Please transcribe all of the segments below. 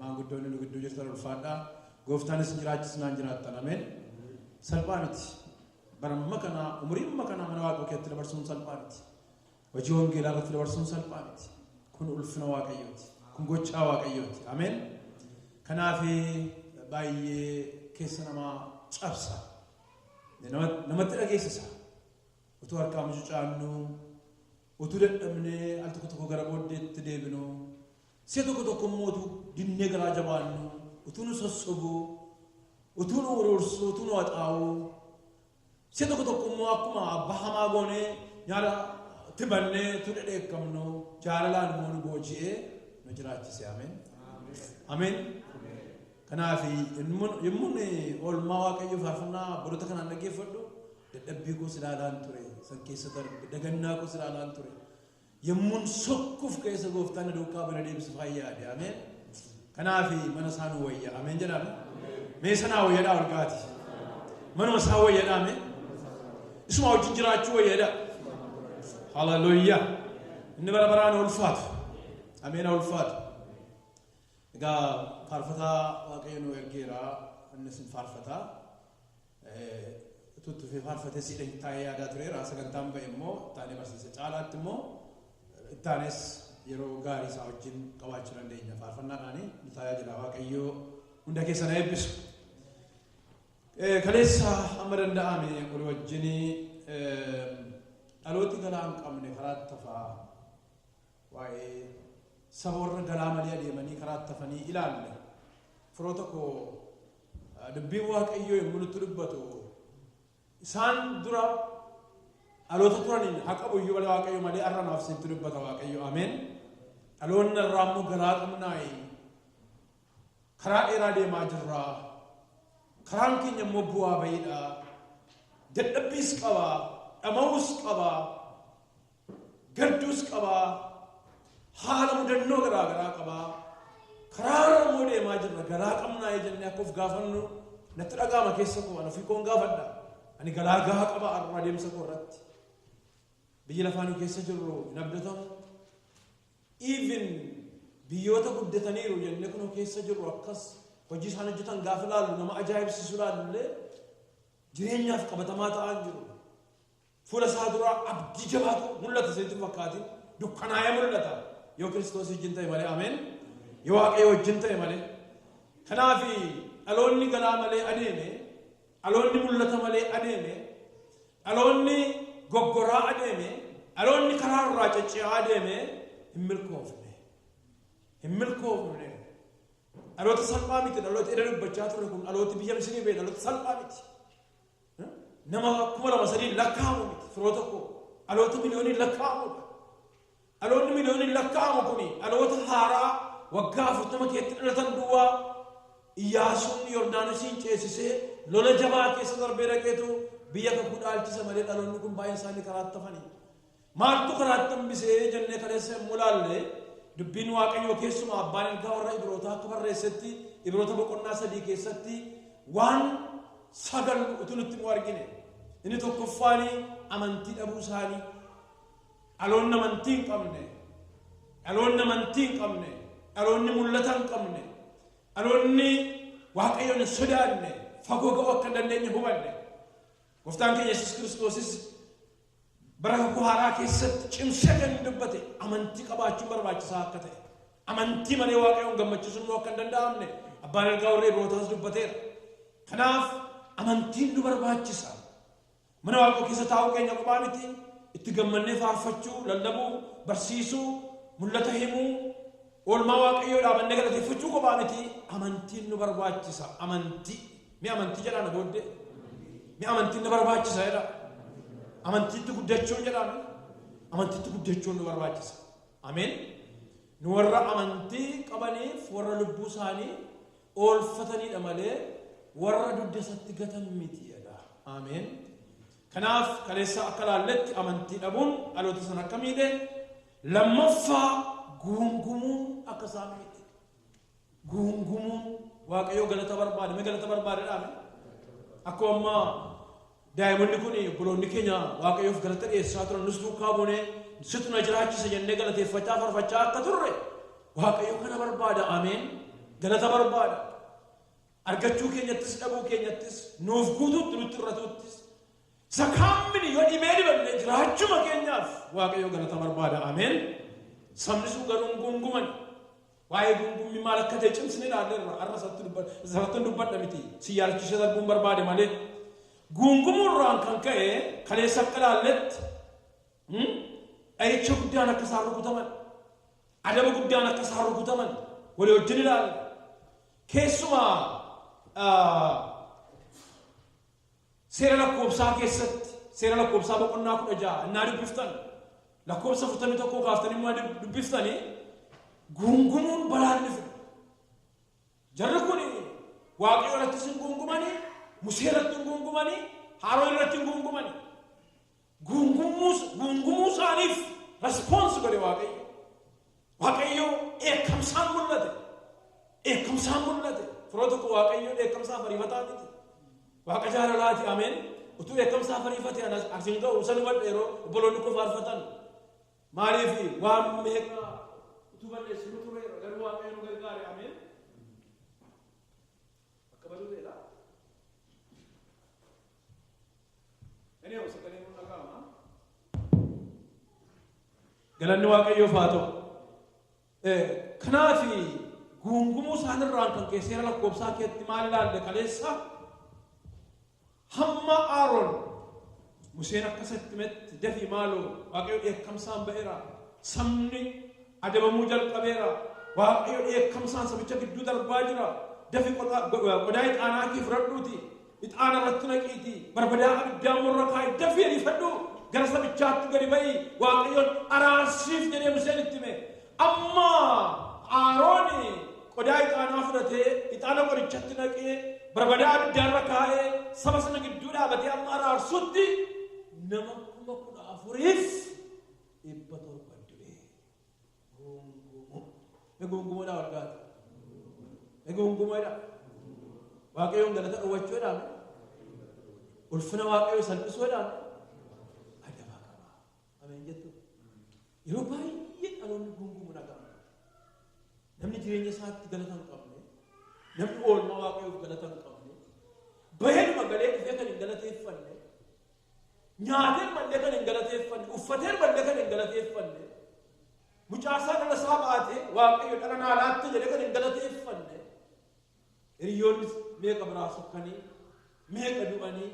Maanguddoonni nu gidduu jirtan ulfaadhaa. Gooftaan isin jiraachisnaan jiraattan. Ameen. Salphaa miti. Bara amma kana umurii amma kana mana Waaqayyoo keessatti dabarsuun salphaa miti. Hojii wangeelaa irratti dabarsuun salphaa miti. Kun ulfina Waaqayyooti. Kun gochaa Waaqayyooti. Ameen. Kanaaf baay'ee keessa namaa cabsa. Nama- Namatti dhageessisa. Utuu harkaa mucucaannu, utuu dadhabnee al tokko tokko gara booddeetti deebinu, Si'a tokko tokko immoo utuu dinnee garaa jabaannu, utuu nu sossobu, utuu nu uruursu, utuu nu haxaa'u, si'a tokko tokko immoo akkuma abbaa hamaa goonee nyaara itti bannee utuu dhedheekkamnu jaalalaan immoo nu booji'ee nu jiraachise. Ameen. Ameen. Kanaaf yommuu oolmaa waaqayyoo faarfannaa baroota kanaan dhaggeeffadhu dadhabbii koos ilaalaan ture san keessa darbe dagannaa koos ilaalaan ture Yommuun sokkuuf ka'e isa gooftaan na duukaa bana deebisu faayyaa de ameen. Kanaafi mana isaa nu wayya ameen jedhaame. Mee sanaa wayyadhaa ol kaati. Manuma isaa wayyadhaa mee. Isuma wajjin jiraachuu wayyadhaa. Hallelujah. Inni bara baraan ulfaatu. Ameen ulfaatu. Egaa faarfataa waaqayyo nu ergeera innis hin faarfataa. utuu itti fufee faarfatee siidha hin taa'ee yaadaa tureera sagantaan ba'e immoo taanee barsiise caalaatti immoo taanes yeroo gaarii isaa wajjin qabaachuu dandeenya faarfannaadhaanii nu tajaajila waaqayyoo hunda keessa na eebbisu. Kaleessa amma danda'ame walii wajjin dhalooti galaa hin qabne karaa tafaa Waa'ee saba warra galaa malee adeemanii karaatti hafanii ilaalle. Firoota koo dubbiin Waaqayyoo yommuu nutti dubbatu isaan dura dhaloota turaniin haa qabu iyyuu malee Waaqayyo malee har'a naaf isinitti dubbata Waaqayyo ameen. Dhaloonni irraa immoo garaa qabnaayi. Karaa dheeraa deemaa jirra. Karaan keenya immoo bu'aa bayiidha. Dadhabbiis qaba. Dhama'uus qaba. Gaddus qaba, haala mudannoo garaa garaa qaba, karaa irra immoo deemaa jirra, galaa qabnaa jennee akka of gaafannu natti dhaga'ama keessa koo, ana ofii koon gaafadha. Ani galaa gahaa qaba har'a adeemsa koo irratti. Biyyi lafaa nu keessa jirru hin abdatamu. Even biyyoota guddataniiru jennee kun keessa jirru akkas hojii isaan hojjetan gaafa ilaallu nama ajaa'ibsiisu ilaallu illee jireenyaaf qabatamaa ta'aa jiru. Fuula isaa duraa abdii jabaatu mul'ata isinitti fakkaatiin dukkanaa'ee mul'ata yoo kiristoos wajjin ta'e malee ameen yoo waaqayyo wajjin ta'e malee kanaaf dhaloonni galaa malee adeeme dhaloonni mul'ata malee adeeme dhaloonni goggoraa adeeme dhaloonni karaa irraa cacci'aa adeeme hin milkoofne hin milkoofne dhaloota salphaa miti dhaloota edda dubbachaa ture kun dhalooti biyya misrii bee dhaloota salphaa miti Nama kuma lama sadiin lakkaa'amu miti firoota koo. Dhaloota miliyooniin lakkaa'amudha. Dhaloonni miliyooniin lakkaa'amu kuni dhaloota haaraa waggaa afurtama keessatti dhalatan duwwaa Iyyaasuun Yordaanosiin ceesisee lola jabaa keessa darbee dhaqeetu biyya kakuu dhaalchisa malee dhaloonni kun baay'een isaanii karaatti hafanii. Maaltu karaatti hambise jennee kaleessa yommuu ilaalle dubbiin Waaqayyoo keessumaa abbaan ergaa warra Ibrootaa akka barreessetti Ibroota boqonnaa sadii keessatti waan sagal utuu nutti immoo argine. Inni tokkoffaan amantii dhabuu isaanii. Dhaloonni amantii hin qabne. Dhaloonni amantii hin qabne. Dhaloonni mul'ata hin qabne. Dhaloonni Waaqayyoon hin sodaanne. Fagoo ga'uu akka hin dandeenye hubanne. Gooftaan keenya Yesuus Kiristoosis Bara kakuu haaraa keessatti cimsee kan inni dubbate amantii qabaachuun barbaachisaa akka ta'e amantii malee waaqayyoon gammachiisuun immoo akka hin danda'amne abbaan ergaa warra Ibrootaas dubbateera. Kanaaf amantiin nu barbaachisa. Mana waaqayyoo keessa taa'uu keenya qofaa miti itti gammannee faarfachuu, lallabuu, barsiisuu, mul'ata himuu, oolmaa waaqayyoo dhaabannee galateeffachuu qofaa miti amantiin nu barbaachisa. Amantii Mi amantii jedhaa na booddee. Mi amantiin na barbaachisa jedhaa. Amantiitti guddachuun jedhaa mi. Amantiitti guddachuun nu barbaachisa. Ameen. Nu warra amantii qabaniif warra lubbuu isaanii oolfataniidha malee warra dugda isatti gatan miti jedha. Ameen. Kanaaf kaleessa akka laalletti amantii dhabuun dhaloota sana akka miidhe lammaffaa guungumuun akka isaan miidhe. guungumuun waaqayyoo galata barbaada mee galata barbaada dhaame akkuma ammaa daa'imonni kun obboloonni keenya waaqayyoof galata dhiyeessaa turan nus duukaa buunee situ na jiraachisa jennee galateeffachaa farfachaa akka turre waaqayyo kana barbaada ameen galata barbaada argachuu keenyattis dhabuu keenyattis nuuf guutuutti nutti irratuuttis isa kaammini yoo dhibee dibanne jiraachuma keenyaaf waaqayyo galata barbaada ameen sabni sun garuu hin guunguman Waa'ee guungummii maal akka ta'e cimsinee ilaalleerra. Har'a isatti dubba- isarrattan dubbadha miti. Si yaadachiisee darbuun barbaade malee. Guungumuurraan kan ka'e kaleessa akka ilaalletti hmm, dha'icha guddaan akka isaan rukutaman, adaba guddaan akka isaan rukutaman walii wajjin ilaalle. Keessumaa ah, Seera lakkoobsaa keessatti, seera lakkoobsaa boqonnaa kudha ja'a innaa dubbiftan, lakkoobsa afurtamii tokkoo kaaftanii immoo dub- dubbiftanii guungumuun balaan ni dhufa. Jarri kun waaqayyo irratti sin guungumanii, Musee irratti hin guungumanii, Haaroon irratti hin guungumanii. guungumuu isaaniif response godhe waaqayyo waaqayyo dheekkamsaan mul'ate dheekkamsaan mul'ate firoo tokko waaqayyo dheekkamsaa fariifataa miti waaqa jaalalaati ameen utuu dheekkamsaa fariifate anas asiin ga'u san hubadhe yeroo obboloonni koo faarfatan maaliif waan meeqa utuu balleessu nu ture garuu waaqayyo nu gargaare ameen akka baduu ta'edha Galanni Waaqayyoof haa ta'u. Kanaaf guungumuu isaanirraan kan ka'e seera lakkoofsaa keetti maal ilaalle kaleessa hamma Aaroon Museen akka isatti himetti dafii maaloo Waaqayyo dheekkamsaan ba'eera sabni adabamuu jalqabeera Waaqayyo dheekkamsaan sabicha gidduu darbaa jira dafi qodaa ixaanaa kee fudhadhuuti Ixaana irratti naqiitii barbadaa abiddaa immoo irra kaa'i dafii ariifadhu gara sabichaatti gadi ba'i waaqayyoon araarsiif jedhee Museen itti hime. Amma Aarooni qodaa ixaanaa fudhatee ixaana qorichatti naqee barbadaa abiddaa irra kaa'ee saba sana gidduu dhaabatee amma araarsutti nama kuma kudha afuriif dhibba torba du'e. Goongumoo. Egoongumoodhaa wal gaate. Egoongumoodhaa. Waaqayyoon galata dhowwachuudhaan ulfina waaqayyoo salphisuudhaan adabaa qaba. Ameen jettu. Yeroo baay'ee dhaloonni goongumoo dhaga'ama. Namni jireenya isaatti galata hin qabne, namni oolmaa waaqayyoof galata hin qabne, baheedhuma galee dhufee kan hin galateeffanne, Nyaateeruma illee kan hin galateeffanne, uffateeruma illee kan hin galateeffanne, mucaa isaa dhala isaa baate waaqayyo dhala naa laatte jedhee kan hin galateeffanne, hiriyoonni meeqa biraa sokkanii, meeqa du'anii,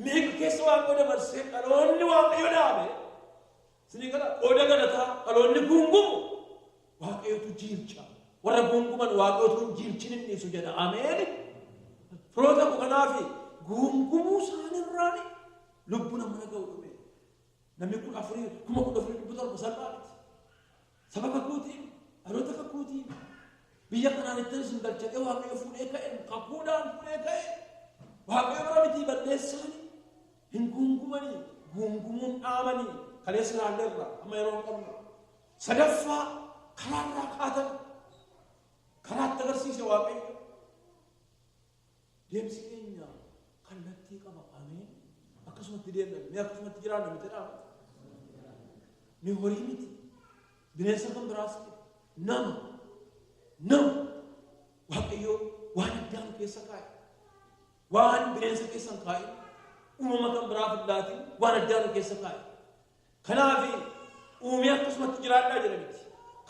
meeqa keessa waaqayyo dabarsee dhaloonni waaqayyo dhaabe. Isinii gala qooda galataa dhaloonni guungumu waaqayyotu jiilcha. Warra guunguman waaqayyotu hin jiilchin hin dhiisu jedha. Ameen. Firoota koo kanaafi guungumuu isaanirraan lubbu nama dhaga'u dhume. Namni kun afurii kuma kudha afurii dhibba torba salphaa miti. Saba kakuutiin, dhaloota kakuutiin, biyya kanaan ittiin isin galchaqee waaqayyo fuudhee ka'e, kakuudhaan fuudhee ka'e, waaqayyo bara mitii balleessaanii, hin guungumanii, guungumuun dhaamanii, kaleessa ilaalleerra, amma yeroo hin qabnu. Sadaffaa karaa irraa kaatan, karaa itti agarsiise waaqayyo. Deemsi keenya kallattii qaba. Ameen. Akkasumatti deemna. Mee akkasumatti jiraanna miti dhaama. Mee horii miti. Bineensa kan biraas miti. Nama. Nama. Waaqayyoo waan addaa nu keessa kaa'e. Waan bineensa keessa hin kaa'in. Uumama kan biraaf hin laatin waan addaa nu keessa kaa'e. Kanaaf uumee akkasumatti jiraadhaa jedha miti.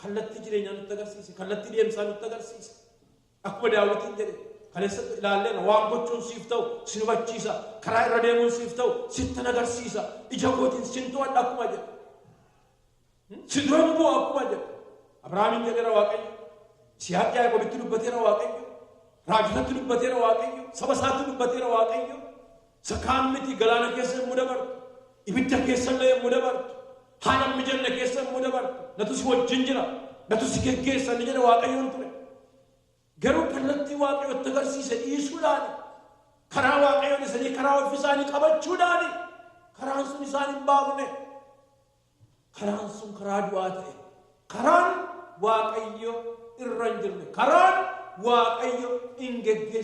Kallattii jireenyaa nutti agarsiise. Kallattii deemsaa nutti agarsiise. Akkuma Daawitiin jedhe kaleessatti ilaalleera waan gochuun siif ta'u sin hubachiisa karaa irra deemuun siif ta'u sittan agarsiisa ija kootiin sin to'adha akkuma jedhe si duran bu'a akkuma jedhe Abrahaamiin jedheera Waaqayyo Siyaaq Yaaqobitti dubbateera Waaqayyo raajotatti dubbateera Waaqayyo saba isaatti dubbateera Waaqayyo Isa kaan miti, galaana keessa yommuu dabartu, ibidda keessa illee yommuu dabartu, haala hin mijanne keessa yommuu dabartu, natu si wajjin jira, natu si geggeessa ni jedha Waaqayyoon ture. Garuu kallattii Waaqayyo itti agarsiise dhiisuudhaan, karaa Waaqayyoon isanii karaa ofii isaanii qabachuudhaan, karaan sun isaan hin baafne. Karaan sun karaa du'aa ta'e. Karaan Waaqayyo irra hin jirre. Karaan Waaqayyo hin geggeessu.